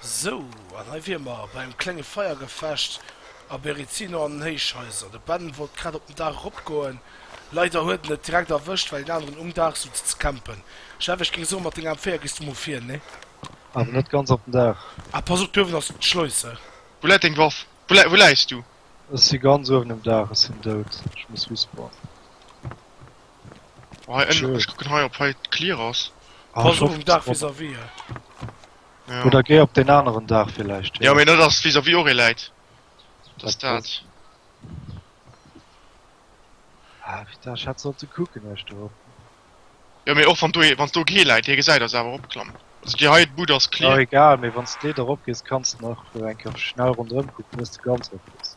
Sou, an hei wier mer bei engem klenge Feiergefecht a Berezino an den Héichhaiser. De Ben wollt grad op den Daach eropgoen, leider huet en et direkt erwëscht, well een aneren um Daach souz ze campen. Jeff, ech géing soen, mat denger M4 gees du mol vir, nee? Awer net ganz op den Daach. Ah, pass op, d'Uewen ass d'Schleus, he. Wou läit deng Waff? Wou läis du? Ech si ganz uewen um Daach, ech sinn dout, ech muss respawnen. Ech kucken hei op hei clear ass. Pass op um Daach vis-à-vis et. Oder géi op deen aneren Daach villäicht. Jo mee net ass vis-à-vis och ee läit. Dat ass dat. Ah putain ech hätt sollte kucken eech dorop. Jo mee och wann do ee, wann do kee läit, dee gesäit ass awer opklammen. Also déi hei Bud ass clear. Egal mee wann s de dorop gees kanns de nach eng Kéier schnell ronderëm kucken iers de ganz erop gees.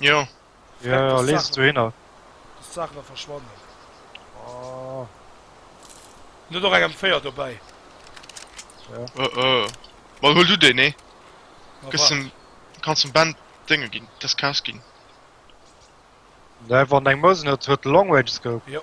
Jo. Jo, jo, lees et dohinner. Dass d'Saachen da verschwannen. Oh. Hun der och eng M4 dobäi. Jo. Oh, oh. Bon, huel du déi, nee? Ma Gëss wat? dem. Kanns dem Ben d'Dénge ginn, des Kaas ginn. Nee, wann eng Mosin huet, huet de Long Range Scope. Jo.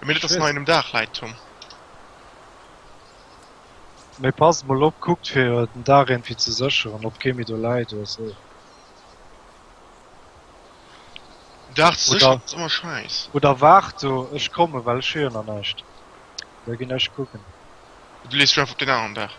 Mee dat ass nach engem Daach lait Tom. Mee passt mol op, kuckt fir den Daach ierndwéi ze sécheren op kee méi do läit oder sou. Den Daach ze sécheren ass ëmmer schäiss. Oder waart do, ech kommen, well ech hu jo nach näischt. Da ginn ech kucken. Du lees dech einfach op deen aneren Daach.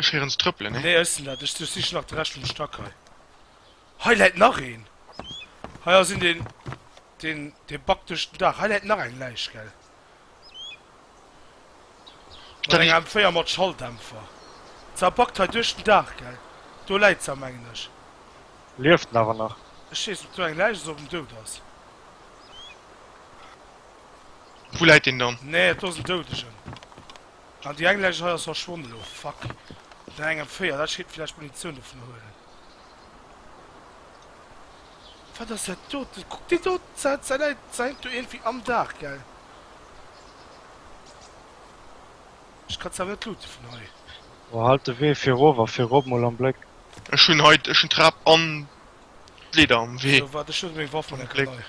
Ech héieren se trëppelen, nee? Nee, ech sinn dat. Ech sichen nach de Rescht vum Stack hei. Hei läit nach een! Hei ass een, deen, deen, dee backt duerch den Dag. Hei läit nach eng Läich, gell? Mat Dat enger ist. M4 mat Schalldämpfer. Sa backt hei duerch den Dag, gell? Do läit sa, mengen ech. Lieft en awer nach? Ech weess net, ob do eng Läich ass, ob en dout ass. Wou läit deen dann? Nee, do ass en Doudegen. Ah déi englescht hei ass verschwonn elo, fuck. Vun engem 4, dat scheet villäicht Munitioun dovun huelen. Wat ass dat doten? Kuck déi doten ze, se läit, se hänkt do iergendwéi am Daach, gell? Ech kann se awer net looten vun hei. Boah, halt de Wee fir erof a fir erop mol am Bléck. Ech hunn hei, ech hunn d'Trap an d'Leeder am Wee. Sou, waart, ech huele meng Waff mol eng Kéier nei.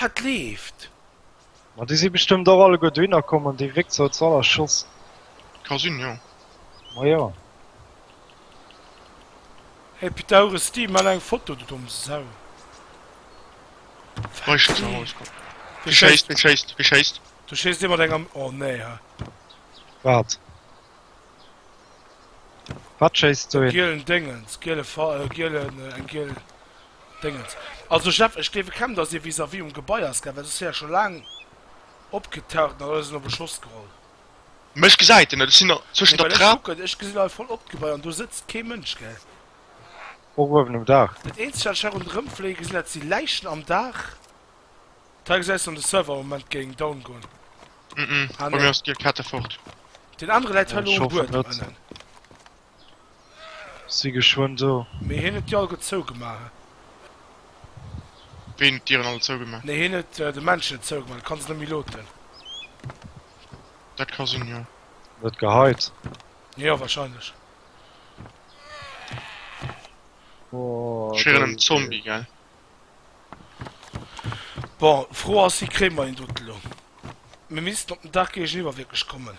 Wat leeft? Ma déi si bestëmmt och alleguer dohinner komm an dee Wéczer huet se all erschoss. Ka sinn, jo. Ma jo. Hey Pythagoras Steve, maach eng Foto du domm Sau. Wat Weicht ze Haus leeft? komm. Wie schéisst? Wie schéisst? Wie schéisst? Do schéisst ee mat enger, oh nee ha. Wat? Wat schéisst do Eng een? gielen Déngens, giele Fa, gielen, eng giel Déngens. Also Jeff, ech gleewe kaum dass hie vis-à-vis um Gebai ass, gell, well soss wier e scho laang opgetaucht an et ass en op e Schoss geholl. Mä ech gesäit en net, ech sinn nach zwëschen der Trap. Ech gesinn hei voll op d'Gebai an do sëtzt kee Mënsch, gell? Och uewen um Daach. Dat eenzegt wat ech hei ronderëm fléie gesinn, dat si Läichen am Daach. Teil gesäis du an de Server am Moment géing down goen. Bei mir ass d'Gear Kette fort. Deen anere läit hei elo um Buedem ënnen. Si geschwënn do. Mee hien huet déi alleguer zougemaach, he? Ween huet d'Dieren all zougemaach? Nee, hien huet de Menschen et zougemaach. Du kanns et net méi loten. Dat ka sinn, jo. An et geheit? Jo, wahrscheinlech. Ech wier en Zombie, gell? Bon, d'Fro ass, wéi kréie mer hien dote lo? Mir missten op den Dag géigeniwwer wierklech kommen.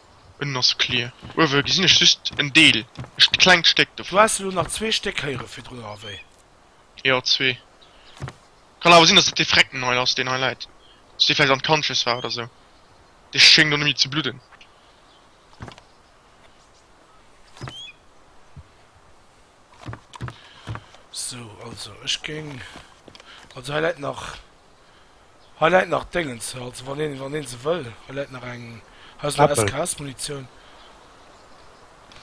Unnen ass clear. Uewe gesinn ech just en Deel, e klengt Stéck Du dovun. has elo nach zwee Stéck héiere virdrun, oder wéi? Jo, zwee. Kann awer sinn, dass et dee Frecken hei ass, deen hei läit. Dass dee vläicht unconscious war oder sou. Dee schéngt och net méi ze bludden. Sou, also ech géing. Also hei läit nach. Hei läit nach Déngens, also wann een, wann een se wëll. Hei läit nach eng, hei ass nach Äppel. SKS-Munitioun.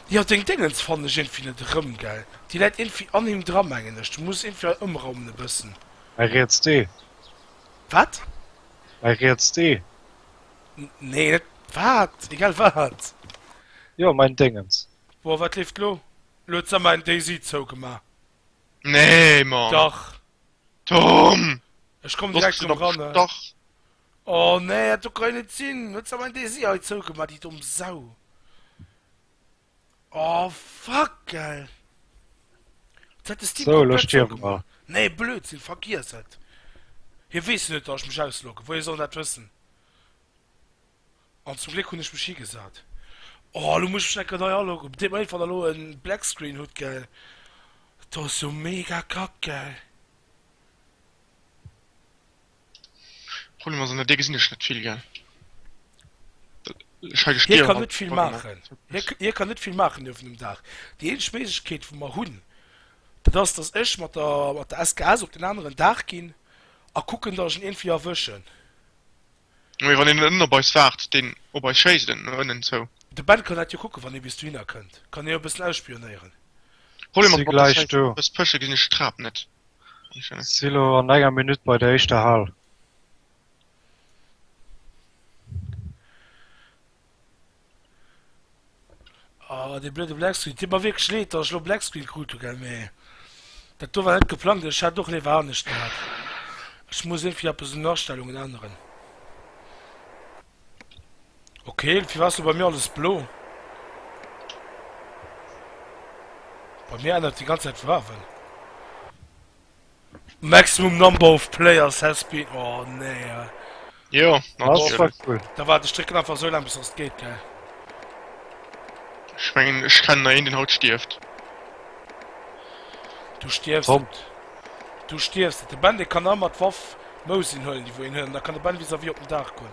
Jo, deng Déngens fannen ech iergendwéi net erëm, gell? Déi läit iergendwéi an him dra, mengen ech. Du muss iergendwéi hei ëmraumen e bëssen. Hei riets dee. Wat? Hei riets dee. N, nee, net. Wat? Egal wat. Jo, mäin Déngens. Boah, wat leeft lo? Lo huet Summer and Daisy zougemaach. Nee, Mann! Dach. Tom! Ech komm direkt um ran. Dach. Oh nee, dat do kann net sinn. Huet awer en Desi hei zougemaach, déi domm Sau. Oh fuck, gell. Dat hätt de Steam so, komplett zougemaach. Nee, Blödsinn, vergiess et. Hie weess jo net, datt ech mech ausloggen. Woier soll en dat wëssen? An zum Gléck hunn ech mech higesat. Oh elo muss ech mech enker nei aloggen. Op deem Einfall elo en Black Screen hutt gell. Dat ass jo mega kack gell. Problem ass an der Dier gesinn ech net vill gell. Ech hei de Hie Spiegelrand kann net vill drop gemaach. maachen. Hie k hie kann net vill maachen uewen um Daach. Déi eenzeg Méiglechkeet wou mer hunn dat ass dass ech mat der mat der SKS op den aneren Daach ginn a kucken dass ech en iergendwéi erwëschen. Mee wann een net op eis waart, deen op eis schéisst en no ënnen zou. De Ben kann dat jo kucken, wann ee bis dohinner kënnt. Kann hie jo e bëssen ausspionéieren. Problem ass mat der Zäit, wann ech eppes pësche gesinn ech d'Trap net. Si lo an enger Minutt bei der éischter Hal. Ah, dee blöde Black Screen. Titt mer wierklech leed, dass ech lo Black Screen krut hu, gell, mee dat do war net geplangt. Ech hätt och léiwer anescht gehat. Ech muss irgendwie eppes un den Astellungen änneren. Okay, irgendwie war es lo bei mir alles blo. Bei mir ännert déi ganz Zäit d'Farwen. Maximum number of players has been oh nee. Jo Da war de Strécken einfach sou lang bis ass geet ge. Ech mengen ech kennen na een den haut stieft. Du stiers Kommt. Du stiers de Ben de kann ëmmer d'Waff Mousin hëllen, déi wou een hëllen, da kann de Ben vis a vis op den Daach goen.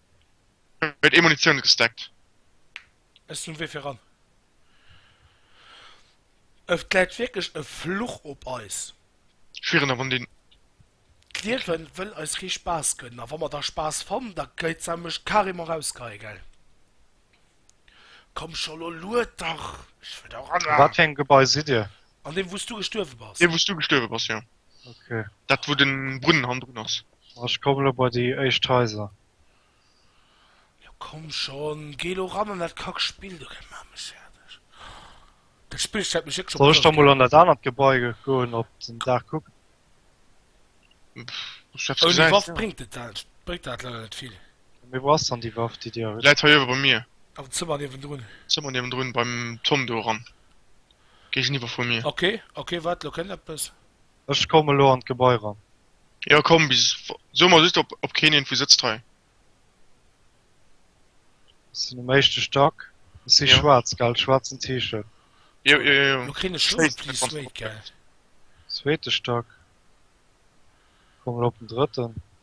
Huet ee Munitioun gestackt? Ech sinn wéi fir ran. Et läit wierklech e Fluch op eis. Schwieren der Rondin. D'Liewen wëll eis kee Spaass gënnen a wa mer da Spaass fannen, da geit se mech carrément rausgeheien, gell? Komm scho, lo lued dach, ech wëll do ran. An wat fir engem Gebai sidd dir? An deem wou s du gestuerwe bass. Deem wou s du gestuerwe bass, jo. Ok. Dat wou den Brunnen hannendrun ass. Ech komme lo bei déi éischt Haiser. Jo komm schon, geh lo ran an dat kack Spill do, dat maat mech färdeg. Dat Spill stellt mech wierklech op d'Ouer. Soll ech da mol an dat anert Gebai goen op den Daach kucken? Ouni Waff bréngt et dat leider net vill. Mee wou ass dann déi Waff déi dir. Läit hei uewe bei mir. Am Zëmmer niewendrun. Zëmmer niewendrun beim Tom do eran, géigeniwwer vu mir. Ok ok waart, lo kënnt eppes. Ech komm elo an d'Gebai ran. Jo komm, bis so mol just op keen een vu sëtzt hei. Ech sinn um éischte Stack. Ech si schwaarz, gell? Schwaarzen T-Shirt. Jo, jo, jo, Lo kréien ech Schong, please wait, gell? Zweete Stack. Komm elo op den drëtten.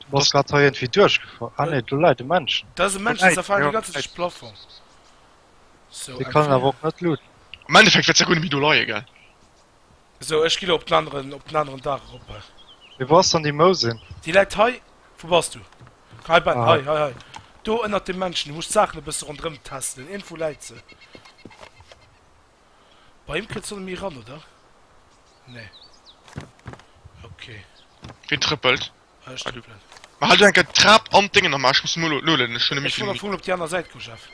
Du bass grad hei irgendwie durchgefall. Ah ne, do leit e Männchen. Da ass e Männchen, dat zerfalen déi ganze Zäit de Plafong. So, Dee kann en awer och net looten. Am Endeffekt wäert se guer net méi do leie, gell? So, ech gi lo op den aneren, op den aneren Dach erop. Mee wou ass dann déi Mousin? Déi läit hei. Wou bass du? Hei, Ben, Ah. hei, hei, hei. Do ënnert dem Männchen. Du musst d'Saachen e bësse ronderëm testelen. Iergendwou läit se. Bei him kënnt d'Sonne méi ran, oder? Nee. Okay. Wien trëppelt? Ah, ech trëppelen. Mä halt elo eng Kéier d'Trap an d'Déngen am A, ech muss emol elo lueden, ech hunn net méi vill Minutten. Ech wollt nach emol op déi aner Säit goen, Jeff.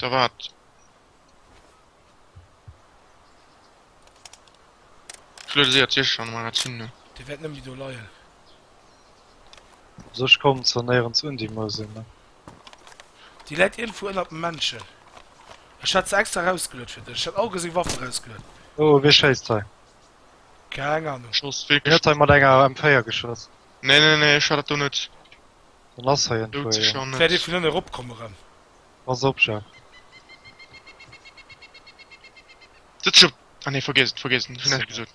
Da waart. Ech luede séier d'Sicht an menger Zinn no. Dir wäert net méi do leien. Also ech kommen zwar néierens un, déi Mousen, mä. Déi läit iergendwou ënnert dem Männchen. Ech hat se extra erausgeluet fir dech. Ech hat all geseng Waffen erausgeluet. Oh, wee schéisst hei? Keng Ahnung. Ech schoss Wee virgeschloss. huet hei mat enger M4 geschoss? Nee, nee, nee, ech hat dat do net. Dann ass hei iergendwou ee. Doudsecher Wäert ee net. vun ënne ropkomm erëm? Pass op, jo. Sëtz op. Ah nee, vergiess et, vergiess et. Hunn näischt gesot.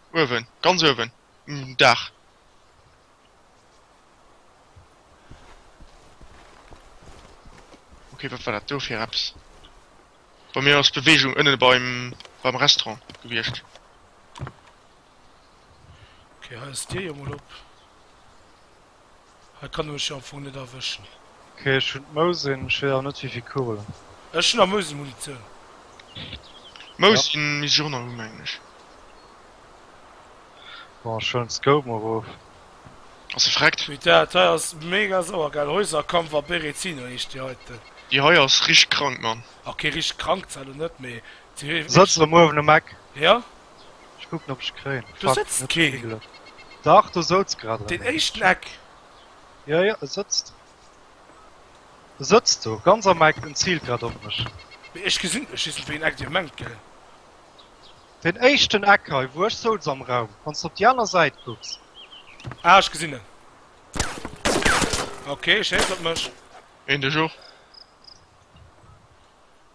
Uewen, ganz uewen um Daach. Ok, wat war dat do fir eppes? Bei mir ass Bewegung ënne beim, beim Restaurant gewiescht. Ok, hei ass d'Dier jo mol op. Hei kann ech jo am Fong net erwëschen hien. Ok ech hun d'Mousin, ech wéiss awer net wéivill Kugelen. Ech hun am Mousin Munitioun. D'Mousin misst ech och nach hu mengen ech. Bon ech huelen d'Scope mol rof. Ass se vreckt? Wait dat hei ass mega sauergäil, Häuserkampf a Berezino heescht déi heiten. Déi hei ass richteg krank man. Ok richteg krank zwar lo net mee. Setz der muer uewen um Eck. Jo Ech kucken op ech kréien. Do sëtzt keen. Dach do souz grad een. Deen éischten Eck. Jo jo e sëtzt. E sëtzt do ganz am Eck en ziilt grad op mech. Mee ech gesinn ech just net wéieen Eck dir mengt gell. Deen éischten Eck hei wou ech souz am Raum wanns de op déi aner Säit kucks. Ah ech gesinn en. Ok schéisst op mech. Een dech och.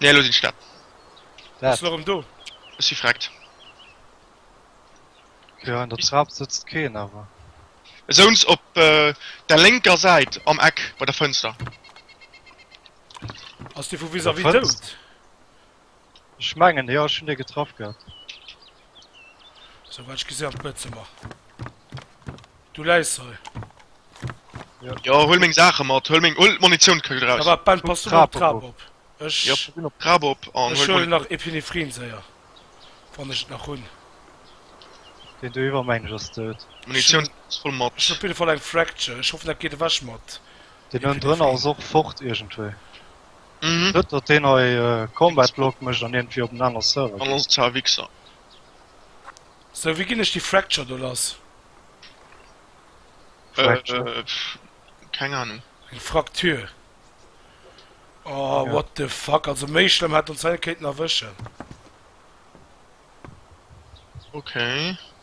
Nee, elo sinn ech dat. Bist du nach erëm do? Ech si vreckt. Jo, an der Trap sëtzt keen awer. Souns op der lénker Säit am Eck bei der Fënster. Ass dee vu vis-à-vis dout? Ech mengen jo ech hun dee getraff gehat. Sou wat ech gesin as Bëtzemer. Du läis hei. Jo huel meng Saachen mat, huel meng huel d'Monitioun kuck Ah eraus. waart Ben pass du mol op d'Trap op. Ech Jo pass een op d'Trap op an ech huel huelen nach d'Monitioun. Epinephrin séier wann ech et nach hun. Deen do iwwer mengen ech as dout. D'Monitioun as voll mat. Ech hun op jidde Fall eng Fracture, ech hoffen dat geet ewech mat. Deen ënendrënner as och fort iergendwéi. Mhm. Net dat deen hei äh, Combat Log mécht an irgendwie op en aner Server An geet. ons zwar Wichser. So, wéi ginn ech déi Fracture do lass? Äh, Fracture. äh, pff, keng Ahnung. Eng Fraktur. Oh, Ja. what the fuck. Also méi schlëmm hätt ons hei net kéinten erwëschen. Okay.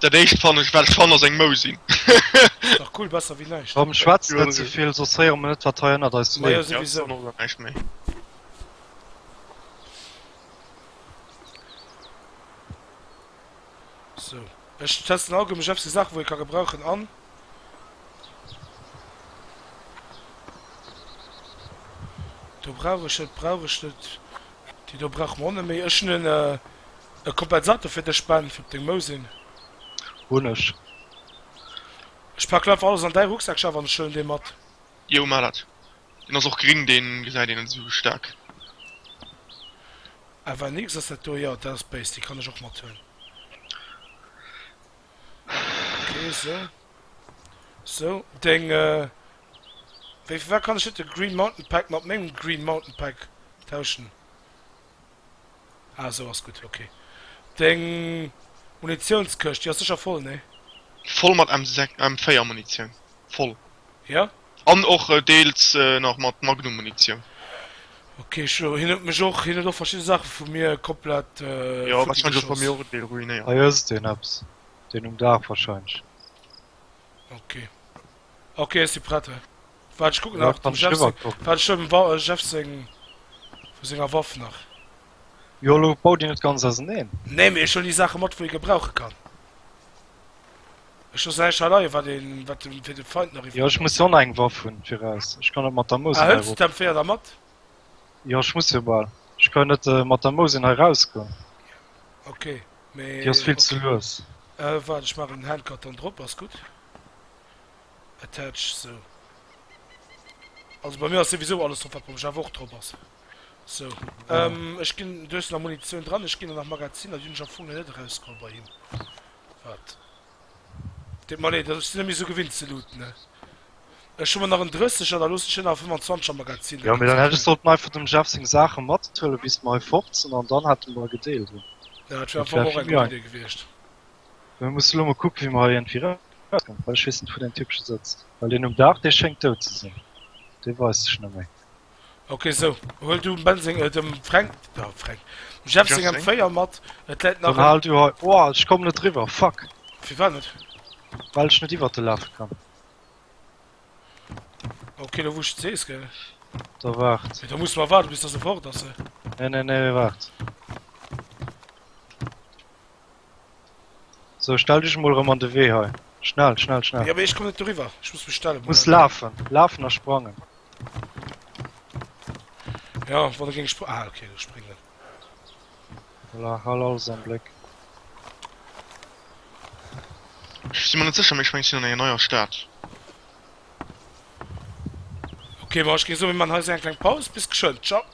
Dat éischt fannen ech well Schann ass eng Mou sinn. Ass dach cool, besser wéi näischt. Komm schwätzt net zevill, soss héiere mer net wat hei ënnert eis Ma jo, leeft. souwisou. Sou, ech testen all goud mech efsi Saachen wou ee ka gebrauchen an. Do brauch ech net, brauch ech net. Déi do brauche mer och net méi. Ech hunn en e Kompensator fir dech Ben, fir op deng Mou sinn. Hunn ech. Ech packen einfach alles an däi Rucksack Jeff an ech huelen dee mat. Jo maach dat. Deen ass och gring, dee gesäit een net esou staark. FNX, ass dat do? Jo dat ass béis, déi kann ech och mathuelen. Okay, so. So, deng, äh... Wéi, firwat kann ech net de Green Mountain Pack mat mengem Green Mountain Pack tauschen? Ah, esou ass gutt, okay. Deng Munitiounskëscht, déi ass sécher voll, nee? Voll mat M6, M4 Munitioun, voll. Jo? An och deels nach mat Magnummunitioun. Ok, ech elo, hien huet mech och, hien huet och verschidde Saache vu mir komplett futti geschoss. Jo, wahrscheinlech och bei mir och en Deel ruinéiert. Hei hues de deen eppes, deen um Daach wahrscheinlech. Ok, ok, ech si prett. Waart, ech kucken nach dem Jeff seng, waart, ech huelen dem Jeff seng, vu senger Waff nach. Jo, elo bau déi net ganz auserneen. Nee, mee ech huelen déi Saache mat, wou ee gebrauche kann. Ech loossen eischt haleiien wat een wat den fir den Feind nach iwwert. Jo ech muss jo och nach eng Waff hun viraus, ech kann net mat der Mousen hei ru. Ah hëls d'M 4 da mat? Jo ech muss jo bal, ech kann jo net mat der Mousen hei raus goen. Ok mee déi ass vill ze lues. Äh waart ech machen den Handkarton drop, ass gudd. Attach sou. Also bei mir ass souwisou alles drop wat brauch ech awer och drop ass. So, ähm, ech ginn, du hues nach Munitioun dran, ech ginn der nach Magaziner, déi hunn ech am Fong nach net erausgeholl bei him. Wat? Deet mer leed, ech sinn net méi esou gewinnt ze looten, ne? Ech hu mer nach en 30 er, da loossen ech hien nach e 25 er Magazin. Jo, mee dann hätt ech sollten einfach dem Jeff seng Saache mathuelen, bis mer hei fort sinn, an dann hätte mer e gedeelt hunn. Ja, dat wär am Fong och eng gutt Idee gewiescht. Mir mussen elo mol kucken, wéi mer hei iergendwéi erauskommen, well ech weess net, wou deen Typ scho sëtzt, well deen um Daach, dee schéngt dout ze sinn, dee weist sech net méi. Ok so huel du Ben seng äh dem Fränk da Fränk dem Jeff seng Jeff seng? M4 mat et läit nach Dann en hal du hei. Oh, ech komm net riwwer, fuck! Firwat net? Well ech net iwwert de lafe kann. Ok lo wou ech et sees gell? Da waart. Mee da muss mer waarde bis dass e fort ass se. Nee, nee, nee, waart. So, stell dech emol erëm an de Wee hei. Schnell, schnell, schnell. Ja, mee ech komm net doriwwer. Ech muss mech stellen. Du muss lafen. Lafen a sprangen. Ja, wann e géng spr. Ah, okay, du springen. Voilà, hal alles am Bléck. Ech si mer net sécher, mee ech mengen, ech sinn an enger neier Stad. Okay, ma ech géng soen, mir maachen hei esou eng kleng Paus. Bis geschwënn. Tschau.